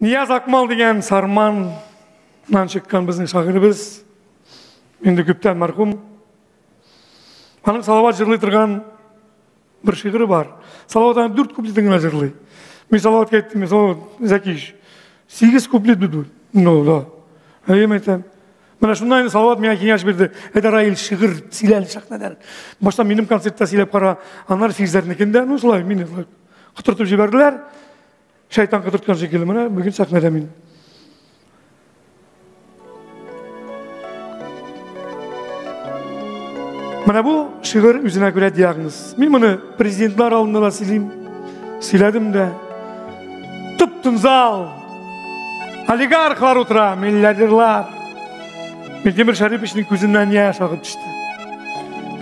Нияз Акмал дигән Сарманнан чыккан безнең шагыйребез. Инде күптән мәрхүм. Аның Салават җырлый торган бер шигыре бар. Салават аны дүрт куплетын гына җырлый. Мин Салаватка әйттем, мин Салават, Зәкиш, сигез куплет бит бу. Ну, да. Әйем әйтәм. Менә шунда инде Салават миңа киңәш бирде. Әйдә, Раил, шигырь сөйләл сәхнәдән. Башта минем концертта сөйләп кара, аннары Фирзәрнекендә, ну, шулай, мине шулай котыртып җибәрделәр. Шайтан кыдырткан шикелле, менә бүген сәхнәдә мин. Менә бу шигырь үзенә күрә диагноз. Мин моны президентлар алдында да сөйлим. Сөйләдем дә. Тып-тын зал. Олигархлар утыра, миллиардерлар. Минтимер Шәриповичның күзеннән яшь агып төште.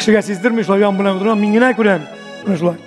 Кешегә сиздермей шулай ян белән утырам, мин генә күрәм. Менә шулай.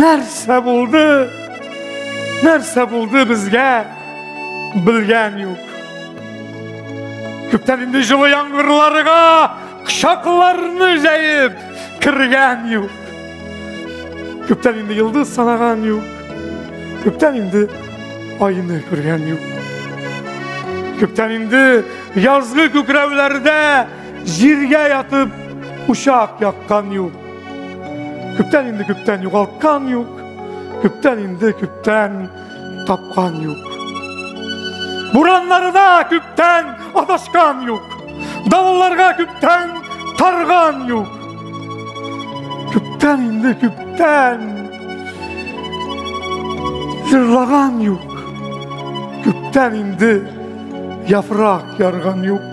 нәрсә булды нәрсә булды безгә белгән юк күптән инде җылы яңгырларга кочакларны җәеп кергән юк күптән инде йолдыз санаган юк күптән инде айны күргән юк күптән инде язгы күкрәүләрдә җиргә ятып учак яккан юк Күптән инде күптән югалткан юк, күптән инде күптән тапкан юк. Бураннарына күптән адашкан юк. Давылларга күптән тарган юк. Күптән инде күптән җырлаган юк. Күптән инде яфрак ярган юк.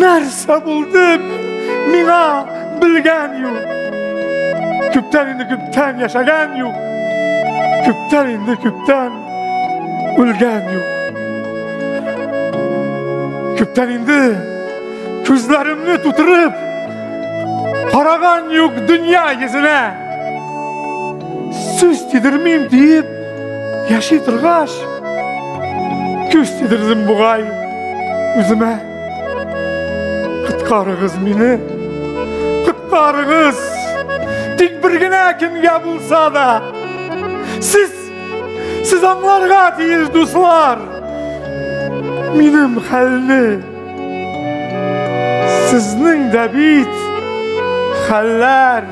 нәрсә булды миңа белгән юк күптән инде күптән яшәгән юк күптән инде күптән үлгән юк күптән инде күзләремне тутырып Параган юк дөнья йөзенә Сүз тидермим диеп Яши торгач, күз тидердем бугай үземә. Коткарыгыз мине, коткарыгыз. Тик бер генә кемгә булса да. Сез сез аңларга тиеш, дуслар. Минем хәлне сезнең дә бит хәлләр